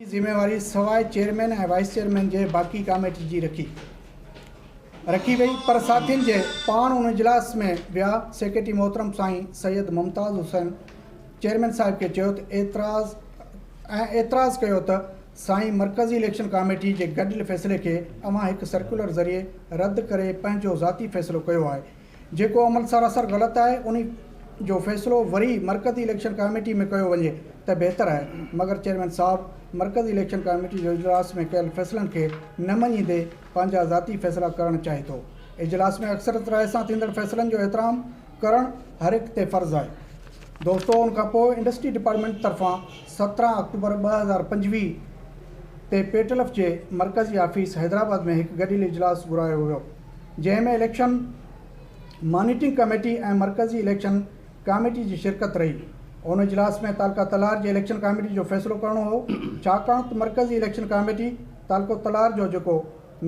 جي ذميواري سواء چيئرمين ۽ وائيس چيئرمين جي باقي ڪاميٽي جي رکي رکي وئي پر ساٿين جي پاڻ ان اجلاس ۾ ويا سيڪريٽري محترم سائين سيد ممتاز حسين چيئرمين صاحب کي چيو ته اعتراض ۽ اعتراض ڪيو ته سائين مرڪزي اليڪشن ڪاميٽي جي گڏيل فيصلي کي اوهان هڪ سرڪيولر ذريعي رد ڪري پنهنجو ذاتي فيصلو ڪيو آهي جيڪو عمل سراسر غلط آهي انهي جو فيصلو وري مرڪزي اليڪشن ڪاميٽي ۾ ڪيو وڃي ته بهتر آهي مگر چيئرمين صاحب مرڪزي اليڪشن ڪاميٽي جو اجلاس ۾ ڪيل فيصلن کي نه مڃيندي پنهنجا ذاتي فيصلا ڪرڻ چاهي ٿو اجلاس ۾ اڪثريت راء سان ٿيندڙ فيصلن جو احترام ڪرڻ هر هڪ تي فرض آهي. دوستو ان کان پوء انڊسٽري ڊپارٽمينٽ طرفان سترهن آڪٽوبر ٻه هزار پنجويهه تي پيٽلف جي مرڪزي آفيس حيدرآباد ۾ هڪ گڏيل اجلاس گهرايو ويو. جنهن ۾ اليڪشن مانيٽرنگ ڪميٽي ۽ مرڪزي اليڪشن ڪاميٽي جي شرڪت رهي. ان اجلاس ۾ تعلقه تلار جي اليڪشن ڪاميٽي جو فيصلو ڪرڻو هو ڇاڪاڻ ته مرڪزي اليڪشن ڪاميٽي تعلقو تلار جو جيڪو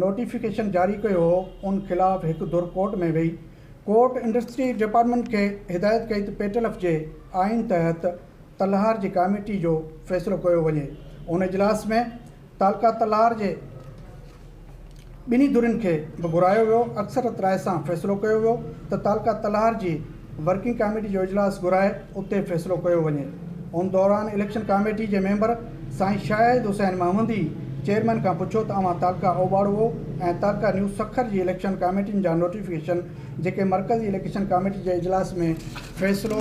نوٽيفڪيشن جاري ڪيو هو ان خلاف هڪ ڌر ڪورٽ ۾ وئي ڪورٽ انڊسٽري ڊپارٽمينٽ کي هدايت ڪئي ته پيٽلف جي آئين تحت تلهار جي ڪاميٽي جو فيصلو ڪيو وڃي ان اجلاس ۾ تعلقه تلار جي ٻنهي ڌرين کي به گهرايو ويو، اڪثريت راء سان فيصلو ڪيو ويو ته تعلقه تلار جي ورڪنگ ڪاميٽي جو اجلاس گهرائي اتي فيصلو ڪيو وڃي، ان دوران اليڪشن ڪاميٽي جي ميمبر سائين شاهد حسين محمدي چيئرمين کان پڇيو ته اوهان تعلقه اوٻاڙوو ۽ تعلقه نيو سکر جي اليڪشن ڪاميٽين جا نوٽيفڪيشن جيڪي مرڪزي اليڪشن ڪاميٽي جي اجلاس ۾ فيصلو